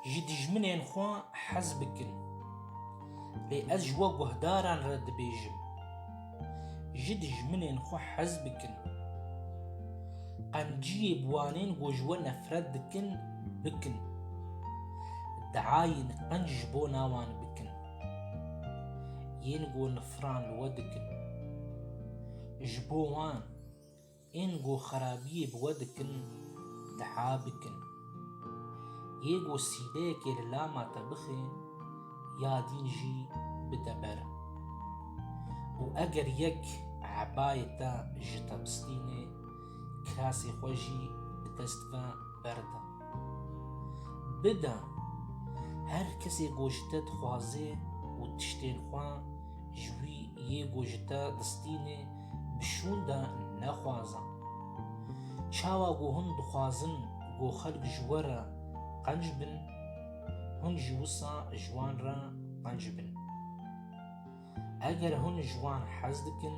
Ji dijminên xwe hez bikin. Lê ez ji we guhdaran re dibêjim, ji dijminên xwe hez bikin. Qenciyê bi wanên ku ji we nefret dikin, bikin. Diayên qenc ji bo nawan bikin. Yên ku nifiran li we dikin. Ji bo wan Ên ku xerabiyê bi we dikin, diha bikin. Yê ku sîbeyekê li lama te bixe, ya dîn jî bide ber. Û eger yek ebayê te ji te bistîne, kirasê xwe jî bi dest ve berde. Bide, her kesê ku ji te dixwaze û tiştên xwe ji wî yê ku ji te distîne, bi şûnda nexwazan. Çawa ku hûn dixwazin ku xelk ji we re qenc bin, hûn jî wisa ji wan re qenc bin. Eger hûn ji wan hez dikin,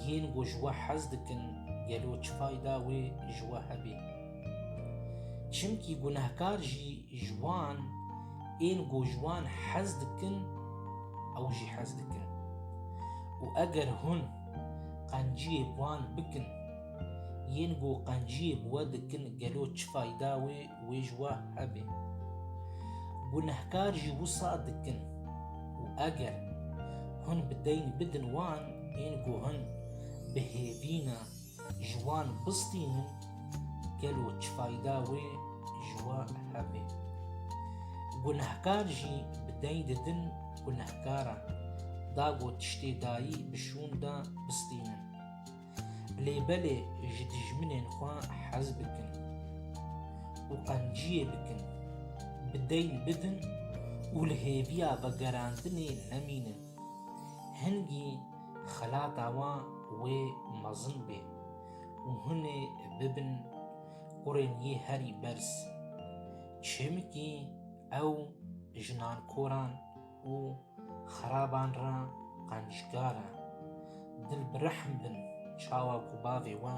yên ku ji we hez dikin gelo çi fayda wê ji we hebê? Çimkî gunehkar jî Ji wan ên ku ji wan hez dikin ew jî hez dikin û eger hûn qenciyê bi wan bikin yên ku qenciyê bi we dikin gelo çi fayda wê wê ji we hebe? Gunehkar jî wisa dikin û eger hûn bi deyn bidin wan ên ku hûn bi hêvîna Ji wan bistînin gelo çi fayda wê ji we hebe? Gunehkar jî bi deng didin gunehkaran, dago tiştê dayî bi şûn da bistînin. Lê belê ji dijminên xwe hez bikin û qenciyê bikin, bi deyn bidin û li hêviya vegerandinê nemînin. Hingî xelata wan wê mezin bê û hûn ê bibin kurên yê herî berz. Çimkî ew jinan koran û xeraban re qencikar e. Dil bi rehm bin çawa ku bavê we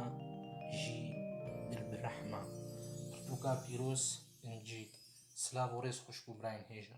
jî dil bi rehm e. Pirtûka pîroz incî. Silav û rêz xweş bo birayên hêja.